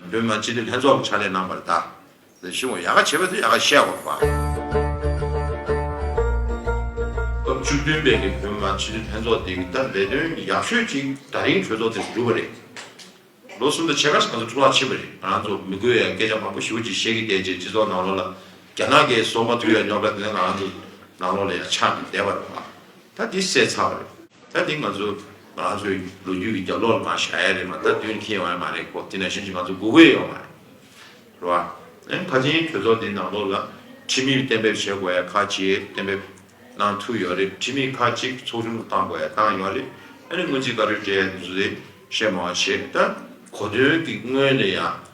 སྒྲོལ་མ་སྤྱི་བདེ་ལྷན་ཚོགས་ལ་ཕྱག་ལས་གནང་བར་བདག་ལ་ཞུ་བ་ཡག་ག་བྱེད་པ་དེ་ཡག་ག་བཤད་དགོས་པ། སྐབས་བཅུ་བདུན་པའི་གི་བོད་མ་སྤྱི་བདེ་ལྷན་ཚོགས་དེ་གི་ད་ལས་དོན་ཡག་ཤོས་གཅིག་ད་རིང་གྲོས་ཚོགས་དེ་འགྲུབ་པ་རེད། ལོ་གསུམ་དང་ཕྱེད་ཀ་ས་ཚོ་འཕྲོ་བརླག་ཕྱིན་པ་རེད་ང་རང་ཚོ་མི་དགོས་ཡ་སྐད་ཆ་མང་པོ་ཞུ་རྗེས་བཤད་གི་བསྡད་རྗེས་སྤྱི་ཚོགས་ནང་ལོགས་ལ་རྒྱ་ནག་གི་སོ་མ་དུ་ཡ་ཉོག་དྲ་དེ་འདྲ་ང་རང་ཚོ་ནང་ལོགས་ལ་ཡ་ཆགས་ནས་བསྡད་པ་རེད་བ། ད་དེ་སེལ་ཚར་བ་རེད། ད་དེ་ང་ཚོ། ང་ཚོའི་ལོ་རྒྱུས་ཀྱི་རྒྱབ་ལོག་ལ་མ་བཞག་ཡ་རེད་མ་ད་དུས་ནས་ཁེལ་ཡོང་ཡ་མ་རེད་གོ་དེ་ནས་གཞན་ཞིག་ང་ཚོ་སྒུག་དགོས་ཡ་ཡོད་མ་རེད་རེད་བ། ཨེ་ཕ་ཆེན་གྲོས་ཚོགས་འདིའི་ནང་ལོགས་ལ་ཁྲིམས་མིར་གཏན་འབེབས་བྱེད་དགོས་ཡ་ཁག་ཅིག་གཏན་འབེབས་གནང་ཐུབ་ཡོད་རེད་ཁྲིམས་མི་ཁག་ཅིག་ཚོགས་ཆུང་དུ་གཏང་དགོས་ཡ་གཏང་ཡོད་རེད་ཨེ་ནས་སྔོན་རྩིས་བཀའ་འཁྲོལ་སྤྲད་ཡ་འདུག་ཟེ་བཤད་མང་བ་བྱེད་ད། གོ་དོན་གྱི་སྔོན་ལ་ཡང་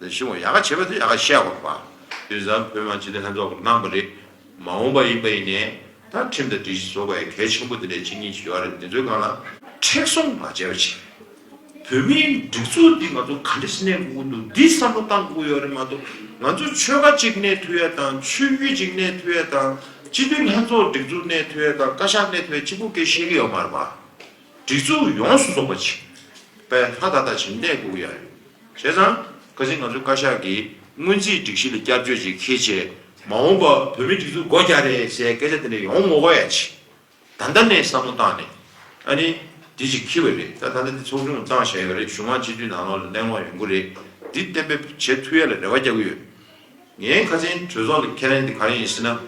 ལས་བྱེད་པ་ཡག་ག་བྱེད་པ་དེ་ཡག་ག་བཤད་དགོས་པ། དུས་བཟང་བོད་མང་སྤྱི་འཐུས་ལྷན་ཚོགས་ཀྱི་གནང་བ་རེད། མ་འོངས་པ་ཡིན་པ་ཡིན་ནའི། ད་ཁྲིམས་དང་སྒྲིག་གཞི་བཟོ་དགོས་ཡ་གལ་ཆེན་པོ་དེ་འདྲའི་གཅིག་གཉིས་བྱེད་ཡག་རེད་འདི་ཚོའི་སྒང་ལ། མཁྲེགས་བཟུང་མ་བྱས་པ་བྱས། བོད་མིའི་སྒྲིག་འཛུགས་འདི་ང་ཚོ་ག་འདྲི་སྣེ་དགོས་ཀྱི་འདུག་འདི་བསམ་བློ་གཏང་དགོས་ཀྱི་ཡོད་རེད་མ་གཏོགས་ང་ཚོ་ཆོལ་ཁ་གཅིག་སྣེ་འཐུས་ཡ་དང་ཆོས་བརྒྱུད་གཅིག་སྣེ་འཐུས་ཡ་དང་སྤྱི་འཐུས་ལྷན་ཚོགས་སྒྲིག་འཛུགས་སྣེ་འཐུས་ཡ་དང་བཀའ་ཤག་སྣེ་འཐུས་ཡ་གཅིག་པོ་གེ་བཤད་ཀྱི་ཡོད་མ་རེད་པ། སྒྲིག་འཛུགས་ཡོངས་སུ་རྫོགས་པ་ཆིག་པའི་ལྷ་ད་ལྟ་བྱིན་རྟེན་གུག་ཡར་བྱས་ཙང་ཁ་ཅིག་ང་ཚོའི་བཀའ་ཤག་གིས་སྔོན་རྩིས་སྒྲིག་གཞི་ལ་བསྐྱར་བཅོས་ཅིག་ཁེལ་རྗེས་མ་འོངས་པ་བོད་མིའི་སྒྲིག་འཛུགས་སྒོ་རྒྱག་རེད་ཞེས་སྐད་ཆ་དེ་འདྲ་ཡོང་མོ་བས་ཆིག་ད་ལྟ་ནས་བསམ་བློ་བཏང་ནས་ཨ་ནི་དེ་ཅིག་ཁེལ་བས་རེད་ད་ད་ལྟ་དེ་ཚོགས་ཆུང་བཙང་བཞག་ཡོད་རེད་གཞུང་དབང་སྤྱི་འཐུས་ནང་ལོགས་ལ་གླེང་སློང་ཡོང་གི་རེད་འདི་གཏན་འབེབས་བྱེད་ཐུ་ཡ་ལ་རེ་བ་རྒྱག་གི་ཡོད། ངའི་ཁ་ཆེན་གྲོས་ཚོགས་ལ་ཁས་ལེན་དེ་གང་ཡིན་ཟེར་ན།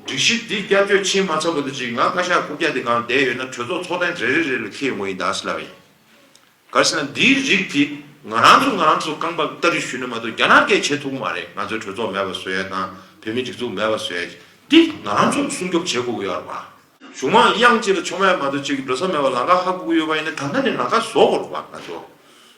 སྒྲིག་གཞི་འདི་བསྐྱར་བཅོས་ཕྱིན་མ་ཚར་བ་དེ་བཞིན་ང་བཀའ་ཤག་རྐུབ་བཀྱག་དེ་གང་བསྡད་ཡོད་ན་གྲོས་ཚོགས་ཚོགས་ཐེངས་རེ་རེ་རེ་ལ་ཁེལ་ཡོང་གི་ཡིན་གདའ་ཟེར་ལབ་པ་ཡིན། ག་ཟེར་ན་འདིའི་རིགས་དེ་ང་རང་ཚོ་ང་རང་ཚོ་རྐང་པ་ལྟ་རི་ཞུས་ནས་མ་གཏོགས་རྒྱ་ནག་སྐད་བྱེད་ཐུབ་གི་མ་རེད་ང་ཚོའི་གྲོས་ཚོགས་མེད་པ་བཟོས་ཡ་དང་བོད་མིའི་སྒྲིག་འཛུགས་མེད་པ་བཟོས་ཡ་དེ་ང་རང་ཚོ་སྲུང་སྐྱོབ་བྱེད་དགོས་ཀྱི་ཡོད་རེད་པ། གཞུང་མང་དབྱངས་གཅིག་ལ་ཆོ་མེད་མ་གཏོགས་གཅིག་གི་འགྲོ་ས་མེད་པ་ལང་ཀ་ཧ་གོ་གི་ཡོད་པ་ཡིན་ན་ད་ལྟ་ནས་ལང་ཀ་བཟོ་དགོས་རེད་པ་ང་ཚོ།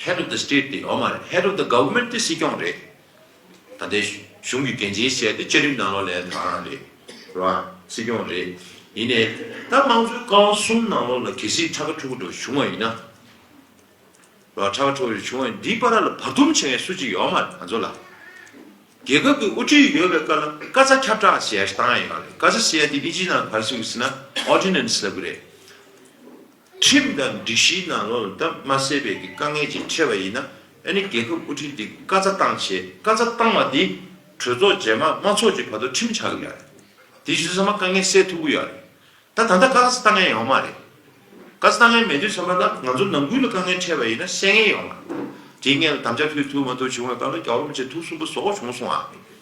Head of the State དེ་ཡོད་མ་རེད Head of the Government དེ་སྲིད་སྐྱོང་རེད། ད་ལྟའི་གཞུང་གི་འགན་འཛིན་བྱས་ཏེ་བཅའ་ཁྲིམས་ནང་ལོག་ལན་དྲངས་རང་རེད། རེད་བ། སྲིད་སྐྱོང་རེད། ཡིན་ནའི། ད་དམངས་གཙོའི་བཀའ་བ་གསུམ་ནང་ལོག་ལ་གལ་སྲིད་ཕྲག་ཁ་འཁྲུག་འགྲོ་བྱུང་བ་ཡིན་ན། རེད་བ། ཕྲག་ཁ་འཁྲུག་འགྲོ་བྱུང་བ་ཡིན་ན་འདིའི་པ་ར་ལ་བར་འདུམ་བྱེད་མཁན་སུ་གཅིག་ཡོད་མ་རེད་ང་ཚོ་ལ། རྒྱལ་ཁབ་ཀྱི་དབུ་ཁྲིད་ཡོད་པའི་བཀའ་ལ་བཀའ་རྩ་ཁྱབ་བསྒྲགས་བྱས་སྟངས་ཡིན་པ་རེད་བཀའ་རྩ་བྱས་ཏེ་དབྱིན་ཇིའི་ནང་བར་བསུ་གི་སྲིད་ན Ordinance ལབ་གི་རེད། ཁྲིམས་དང་སྒྲིག་གཞིའི་ནང་ལོག་ལ་དམ་མ་སེལ་བའི་གི་དཀའ་ངལ་ཅིག་འཕྲད་པ་ཡིན་ན་ཨ་ནི་རྒྱལ་ཁབ་དབུ་ཁྲིད་འདི་བཀའ་རྩ་བཏང་བྱས་བཀའ་རྩ་བཏང་བ་དེ་གྲོས་ཚོགས་རྗེས་མ་མ་ཚོགས་ཀྱི་བར་དུ་ཁྲིམས་ཆགས་གི་ཡ་རེད་དེ་བཞིན་ཚང་མ་དཀའ་ངལ་སེལ་ཐུབ་གི་ཡ་རེད་ད་ད་ལྟ་བཀའ་རྩ་བཏང་ཡ་ཡོང་མ་རེད་བཀའ་རྩ་བཏང་ཡ་མེད་དུས་ཚང་མ་ལ་ང་ཚོ་ནང་ཁུལ་ལ་དཀའ་ངལ་འཕྲད་པ་ཡིན་ན་སེལ་ངེས་ཡོང་མ་རེད་དེའི་སྔན་ལ་དམ་བཅའ་ཕུལ་ཐུབ་མ་ཐུབ་བྱུང་ཡོང་ད་ལོ་རྒྱ་བོར་མི་བྱེད་ཐུགས་གསུམ་པོ་ཟོག་གོ་བྱུང་སོང་ཨ།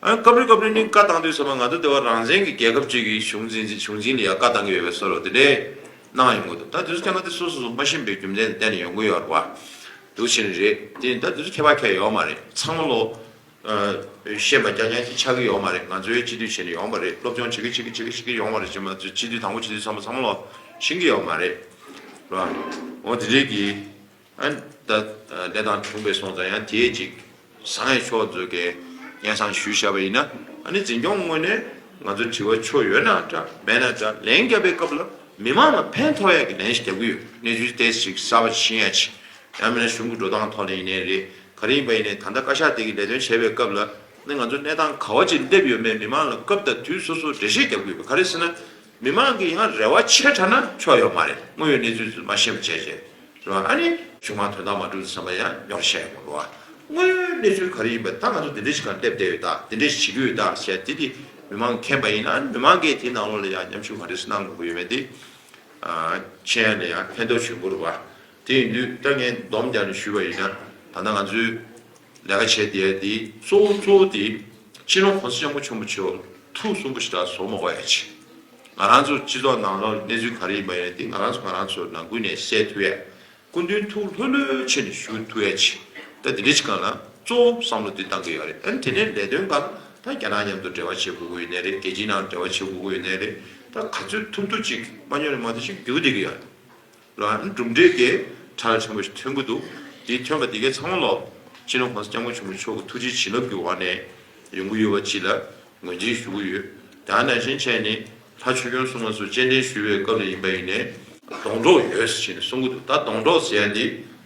སྐབས་རེ་སྐབས་རེ་ནི་བཀའ་བཏང་དུས་ཚང་མ་ང་ཚོ་ལྟེ་བ་རང་བཙན་གྱི་རྒྱལ་ཁབ་ཅིག་གི་གཞུང་འཛིན་ཚེ་གཞུང་འཛིན་ལ་ཡང་བཀའ་བཏང་གི་ཡོད་པའི་སོར་རོ་དེ་འདྲས་གནང་ཡོང་གི་འདུག་ད་དེ་ཚོ་ཀྱང་ང་དེ་སོ་སོ་སོ་མ་ཤེས་པའི་རྒྱུ་མཚན་གཏན་ནས་ཡོང་གི་ཡོད་པ་འདུག་ཤེས་ནི་རེད་དེ་ནི་ད་དེ་ཚོ་ཁྱད་པར་ཁྱད་ཡོད་མ་རེད་ཚང་མ་ལོ་ཤེས་པ་རྐྱང་རྐྱང་ཞིག་ཆགས་ཀྱི་ཡོད་མ་རེད་ང་ཚོའི་སྤྱི་འཐུས་བྱས་ནས་ཡོང་བ་རེད་སློབ་སྦྱོང་བྱེད་ཀྱི་བྱེད་ཀྱི་བྱེད་ཀྱི་བྱེད་ཀྱི་ཡོང་བ་རེད་བྱས་མ་སྤྱི་འཐུས་དང་པོ་བྱས་དུས་ཚང་མ་ཚང་མ་ལོ་ཤེས་ཀྱི་ཡོད་མ་རེད་འོ་དེ་འདྲས་ཀྱི། དེ་དང་མཐུན་པའི་སོང་ཙང་ཡང་དེའི་ཅིག། བཟང་ཡེ་ཕྱོགས་མཛོད་དགའི་སྙན་བཟང་ཞུ་བྱ་བ་ཡིན། ནི་འཛིན་སྐྱོང་དངོས་ནས་ང་ཚོ་དྲི་བ་ཆོ་ཡོད་ན་འདྲ་མེད་ན་འདྲ་ལན་རྒྱབ་པའི་སྐབས་ལ་མི་མང་ལ་ཕན་ཐོག་ཡག་གི་ལན་ཞིག་རྒྱབ་གི་ཡོད་གནས་ཚུལ་དེ་ཅིག་གསར་བ་ཤེས་ཡ་ཆེ། ཡང་མིན་ན་གཞུང་གི་འགྲོ་སྟངས་ཐོག་ནས་ཡིན་ནའི་རེད་ག་རེ་ཡིན་པ་ཡིན་ནའི་ད་ལྟ་བཀའ་ཤག་དེ་གི་ལས་དོན་བྱས་པའི་སྐབས་ལ་ནི་ང་ཚོ་གནས་སྟངས་ག་བ་ཅིག་སླེབས་ཡོད་མེད་མི་མང་ལ་སྐབས་དང་དུས་སོ་སོ་འགྲེལ་བཤད་རྒྱབ་གི་ཡོད་པ་ག་རེ་སེ་ན། མི་མང་གིས་ཡང་རེ་བ་ཆེ་དྲགས་ན་ཆོག་ཡོད་མ་རེད་དངོས་ཡོད་གནས་ཚུལ་རྫུན་མ་བཤད་པ་བྱས་རྗེས་རེད་བ་ཨ་ནི། ཆུང་མ་དོན་དག་མ་འགྲུབ་བསམ་པ་ཡང་ཉོག་བཤད་ཡོད་མ་རེད་བ། དངོས་ཡོད་གནས་ཚུལ་ག་རེ་ཡིན་པ་ད་ང་ཚོ་འདི་འདྲའི་ཞིག་གང་སླེབས་བསྡད་ཡོད་དང་འདི་འདྲའི་ཞིག་བྱེད་ཀྱི་ཡོད་དང་བྱས་དེ་དེ་མི་མང་མཁྱེན་པ་ཡིན་ན་མི་མང་གིས་དེའི་ནང་ལོགས་ལ་ཡང་མཉམ་ཞུགས་ག་འདྲས་སུ་གནང་དགོས་ཀྱི་ཡོད་མེད་དེ། མཁྱེན་ཡོད་ན་ཡང་ཕན་ཐོགས་བྱུང་དགོས་རེད་བ། དེ་ཡིན་དུས་ད་ངས་སྡོམ་རྒྱག་ནས་ཞུས་པ་ཡིན་ན། ད་ལྟ་ང་ཚོས་ལས་ཀ་བྱས་དེའི་དེའི་གཙོ་བོ་གཙོ་བོ་དེ། སྤྱི་ནོར་གོང་ས་སྐྱབས་མགོན་ཆེན་པོ་མཆོག་ཐུགས་གསུང་པོ་ཞིག་ད་བཟོ་མ་གོ་ཨེ་ཆེ། ང་རང་ཚོ་སྤྱི་ཚོགས་ནང་ལོགས་གནས་ཚུལ་ག་རེ་ཡིན་པ་ཡིན་དེ་ང་རང་ཚོ་ང་རང་ཚོ་ནང་ཀུན་ནས་གསལ་ཐུབ་ཨེ། སྐུ་མདུན་ཐུགས་ལྷོད་ལྷོད་བྱས་ནས་ཞུ་ཐུབ་ཨེ་ཆེ། ད་དེ་འདྲའི་ཆེ་གང་ན་གཙོ་བོ་བསམ་བློ་དེ་གཏང་གི་ཡོད་རེད། དེ་ནས་ལས་དོན་གང་ད་རྒྱ་ནག་མཉམ་དུ་འབྲེལ་བ་བྱེད་དགོས་ཀྱི་ཡོད་ནའི་རེད་རྒྱལ་སྤྱིའི་ནང་འབྲེལ་བ་བྱེད་དགོས་ཀྱི་ཡོད་ནའི་རེད། ད་ག་ཚོད་ཐུབ་ཐུབ་ཅིག་མ་ཉོ་ནས་མ་བསྡད་ཅིག་རྒྱུག་བསྡད་ཀྱི་ཡོད། ལ་ནི་གྲུབ་འབྲས་ཀྱི་གྲགས་ལས་ཆེན་པོ་ཞིག་ཐོན་གྱི་འདུག་དེ་ཐོན་པ་དེ་གའི་ཚང་མ་ལ་ཕྱི་ནང་གོང་ས་སྐྱབས་མགོན་ཆེན་པོ་མཆོག་གི་ཐུགས་རྗེའི་བྱིན་རླབས་ཀྱི་འོག་ནས་ཡོང་གི་ཡོད་པ་བཅས་ལ་ངོས་འཛིན་ཞུ་གི་ཡོད། དང་ནང་བཞིན་བྱས་ནི་ལྷ་ཆོས་སྐྱོང་སྲུང་མ་སོགས་སྤྱན་འདྲེན་ཞུ་བའི་སྐབས་ལ་ཡིན་པ་ཡིན་ནས། སྡོང་གྲོགས་ཡོད་ཟེར་བྱས་ནས་གསུང་གི་འདུག་ད་སྡོང་གྲོགས་ཟེར་ཡ་འདི།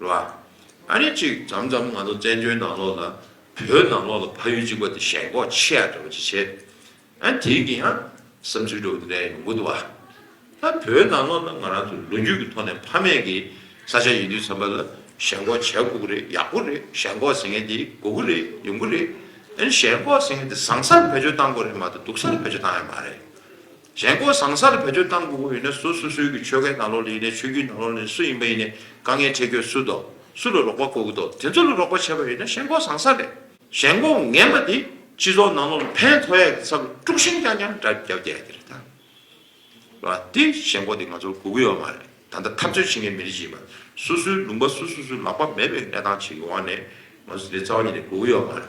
ལ། ཨ་རེ་ཅིག་འཇམ་འཇམ་ང་ཚོ་བཙན་བྱོལ་ནང་ལོགས་ལ་བོད་ནང་ལོགས་ལ་ཕ་ཡུལ་གཅིག་པ་དེ་ཞེན་ལྐོག་ཆེ་ཡ་འདྲ་བོ་ཅིག་བྱེད། ཨ་དེ་གི་ཡང་བསམ་ཚུལ་འདྲ་བོ་འདི་འདྲ་ཡང་ཡོང་གི་འདུག་བ། ད་བོད་ནང་ལོགས་ན་ང་རང་ཚོ་ལོ་རྒྱུས་ཀྱི་ཐོག་ནས་ཕ་མེས་ཀྱི་ས་ཆ་ཡིན་དུས་བསམ་པ་ལ་ཞེན་ལྐོག་བྱེད་དགོས་ཀྱི་རེད་ཡག་པོ་རེད་ཞེན་ལྐོག་ཟེར་མཁན་དེ་དགོས་ཀྱི་རེད་ཡོང་གི་རེད། ཨ་ཞེན་ལྐོག་ཟེར་མཁན་དེ་བཟང་སར་བེད་སྤྱོད་བཏང་དགོས་རེད་མ་གཏོགས་སྡུག་སར་བེད་སྤྱོད་བཏང་ཡ་མ་རེད། གཞན་སྐོར་ཟངས་གསར་བོད་དོན་ཏང་གི་དབུ་ཡིན་ན་སུ་སུ་སུའི་གི་ཆོལ་ཁའི་ནང་ལོག་ལེ་ཡིན་ནའི་ཆོས་རྒྱུའི་ནང་ལོག་ལེ་སུ་ཡིན་པ་ཡིན་ནའི་དཀའ་ངལ་འཕྲད་ཁྱོད་སུ་དོ་སུ་ལ་རོགས་པ་དགོས་ཀྱི་དོ་དེ་ཚོ་ལ་རོགས་པ་བྱེད་པ་ཡིན་ན་གཞན་སྐོར་ཟངས་གསར་རེད། གཞན་སྐོར་ངན་པ་དེ་སྤྱི་ཚོགས་ནང་ལོག་ལ་ཕན་ཐོགས་ཡག་གི་ཚབ་ལ་དཀྲུག་ཤིང་རྐྱང་རྐྱང་འདྲ་རྒྱབ་རྒྱག་གི་རེད་ད། ལ་དེ་གཞན་སྐོར་དེ་ང་ཚོར་དགོས་ཀྱི་ཡོད་མ་རེད་ད་ལྟ་འཐབ་རྩོད་བྱེད་མཁན་མི་རིགས་ཀྱི་མ་སུ་སུའི་ལུང་པ་སུ་སུ་སུ་ལག་པ་མེད་པའི་གནས་སྟངས་བྱེད་ཀྱི་ཡོང་བ་ནས་ང་ཚོ་དེ་རྩ་བ་ཉིད་ནས་དགོས་ཀྱི་ཡོད་མ་རེད།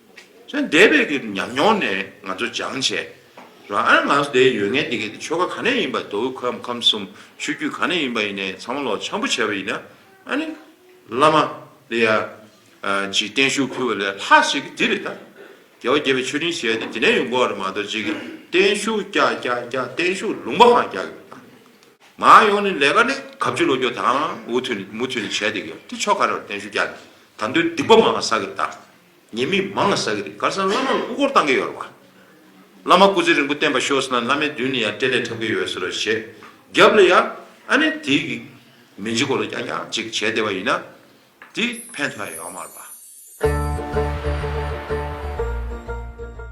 ཚོའི་འདས་པའི་གི་ཉམས་མྱོང་ནས་ང་ཚོ་སྦྱང་བྱས། རང་ཨ་ང་ཟོ་དེའི་ཡོད་ངན་དེ་གི་ཆོལ་ཁ་ག་ནས་ཡིན་པ་དོ་བོད་ཁམས་ཁམས་གསུམ་ཆོས་རྒྱུད་ག་ནས་ཡིན་པ་ཡིན་ནས་ཚང་མ་ལོག་འཆམ་པོ་བྱས་པ་ཡིན་ན་ཨ་ནི། བླ་མ། དེ་ཡ། ཇི་བསྟན་བཞུགས་ཕུལ་བ་ལས་ལྷག་བྱེད་གི་དེ་རེད་ད། རྒྱལ་བ་དགྱེས་པའི་མཆོད་སྤྲིན་ཞེས་པ་དེ་དེ་ནས་ཡོང་དགོས་བ་རེད་མ་གཏོགས་ཇི་གི་བསྟན་བཞུགས་རྒྱ་རྒྱ་རྒྱ་བསྟན་བཞུགས་ལུང་པ་ཧང་རྒྱག་གི་རེད་ད། མ་ཡོང་ནི་ལས་ཀ་ནི་ག་བཅུ་ལོ་རྒྱུགས་དང་འུ་ཐུག་ནི་མུ་ཐུག་ནི་བྱས་དེ་གི་དེ་ཆོ་ག་རེད་བ་བསྟན་བཞུགས་རྒྱ་ནི་ད་འདོད་སྡིག་པ་མང་བ་ཟ་གི་རེད་ད། ཉེས་དམིགས་མང་ལ་བསགས་ཀྱི་རེད་གར་སང་བླ་མ་ལ་སྐུ་འཁོར་བཏང་གི་ཡོད་རེད་བ། བླ་མ་སྐུ་ཚེ་རིང་པོ་བརྟན་པ་ཤོག་ཟེར་ན་བླ་མའི་མདུན་ནས་ཡང་སྤྲེལ་ལད་འཁྲབ་ཀྱི་ཡོད་ཟེར་བ་ཞེས་རྒྱབ་ལ་ཡང་ཨ་ནེ་དེའི་གི་མི་འཇིག་གོ་ལ་རྐྱང་རྐྱང་ཅིག་བྱས་བསྡད་པ་ཡིན་ན་དེ་ཕན་ཐོགས་ཡོད་མ་རེད་བ།